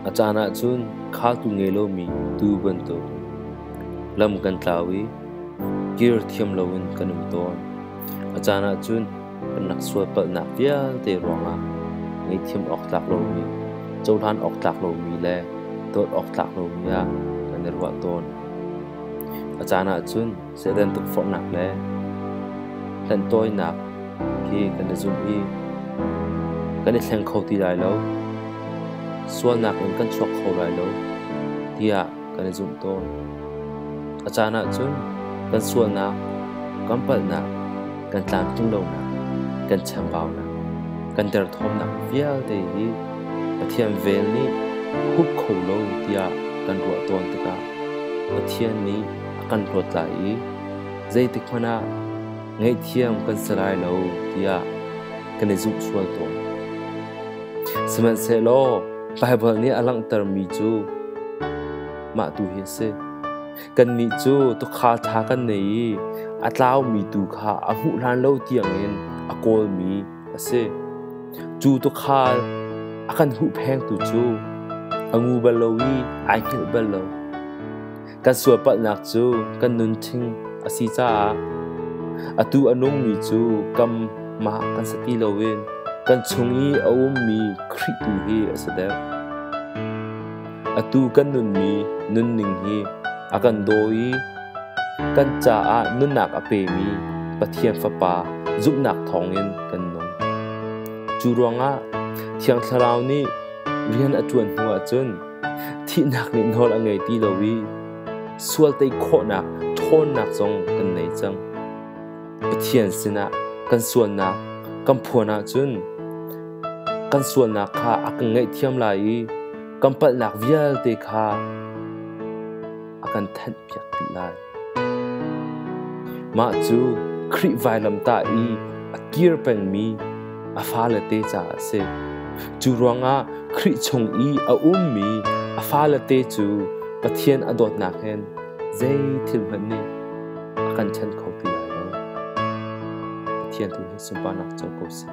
A caan ahcun khatu ngei lomi tuu bantuk lam kan tlau i kir thiam loin kan um tawn. A caan ahcun kan rak sualpalhnak vialte ruangah ngeihthiam awk tlak lomi, cohlan awk tlak lomi le dawt awk tlak lomi ah kan i ruah tawn. A caan ahcun Satan tukforhnak le hlenhtawinak khi kan i zumh i kan i thleng kho ti lai lo. Sualnak in kan chuak kho lai lo tiah kan i zumh tawn. A caan ahcun kan sualnak, kan palhnak, kan tlamtling lonak, kan chambaunak, kan derthawmnak vialte hi Pathian vel nih hup kho lo tiah kan ruah tawn tikah Pathian nih a kan hlawt lai i zeitikhmanh ah ngaihthiam kan si lai lo tiah kan i zumh sual tawn. Sihmanhsehlaw Baibal nih a langhtermi cu mah tu hi a si. Kannih cu tukha ṭha kan nei i a tlaumi tu kha a hmuh hlan lo tiangin a kawlmi a si. Cu tukhal a kan huhphengtu cu a ngu bal lo i ai hngilh bal lo. Kan sualpalhnak cu kan nunṭhing a si caah atu a nungmi cu kamah kan sa ti loin kan chung i a ummi Khrih tu hi a si deuh. Atu kan nunmi nunning hi a kan daw i kan caah nunnak a pemi Pathian Fapa zumhnak thawngin kan nung. Cu ruangah Thiang Thlarau nih rian a ṭuan hnuah cun Thihnak nih nawl a ngei ti lo i sual tei khawhnak ṭhawnnak zong kan nei cang. Pathian sinah kan sualnak kan phuan ahcun kan sualnak kha a kan ngaihthiam lai i kan palhnak vialte kha a kan thanhpiak dih lai. Mah cu Khrih vailamtah i a kir pengmi a falete caah a si. Cu ruangah Khrih chung i a ummi a falete cu Pathian a dawtnak in zeithil hmanh nih a kan ṭhen kho ti lai lo. Pathian tu hi sunparnak co ko sih.